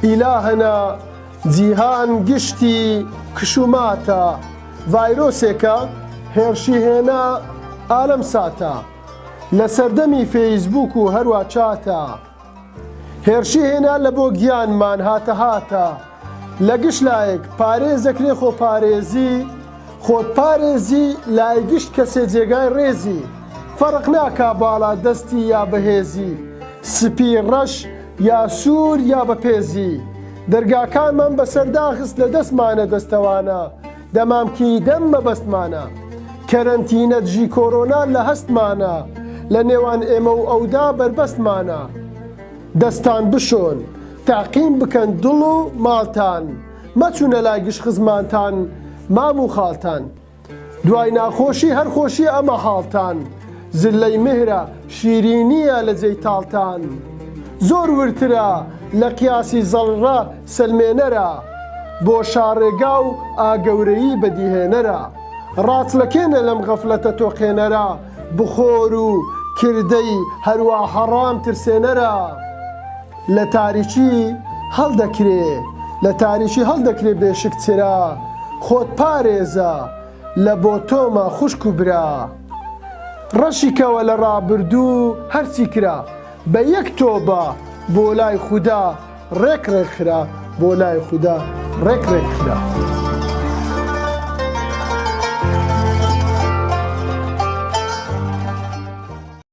ئیلاهەنە، جیهان گشتی کشوماتە، ڤایرۆسێکە هێرشی هێنا ئالەم ساتە، لە سەردەمی فەیسبووک و هەروا چاتە، هێرشی هێنا لە بۆ گیانمان هاتە هاتە، لە گشت لایەک پارێزەکرێ خۆپارێزی، خۆت پارێزی لای گشت کەسێ جێگای ڕێزی فەرق ناکا باڵا دەستی یا بەهێزی سپی ڕەش یا سوور یا بە پێزی دەرگاکانمان بەسەر داخست لە دەستمانە دەستەوانە دەمامکی دەم مەبەستمانە کەرەنتینە دژی کۆرۆنا لە هەستمانە لە نێوان ئێمە و ئەودا بەربەستمانە دەستان بشۆن تەعقیم بکەن دڵ و ماڵتان مەچونە لای گشت خزمانتان مام و خالتان دوای ناخۆشی هەر خۆشیە ئەمە حالتان زلەی مهرە شیرینیە لە جێی تالتان زۆر وردترە لە قیاسی زەڕڕە سەلمێنەرە بۆ شا ڕێگا و ئا گەورەیی بەدیهێنەرە ڕاچڵەکێنە لەم غەفلەتە تۆقێنەرە بخۆر و کردەی هەروا حەڕام ترسێنەرە لە تاریکی هەڵدەکرێ لە تاریکی هەڵدەکرێ بێ شک چرا خۆت پارێزە لە بۆ تۆمە خوشک و برا ڕەشی کەوە لە ڕابردوو هەرچی کرا بە یەک تۆبە بۆ لای خودا ڕێک ڕێک خرا بۆ لای خودا ڕێک ڕێک خرا.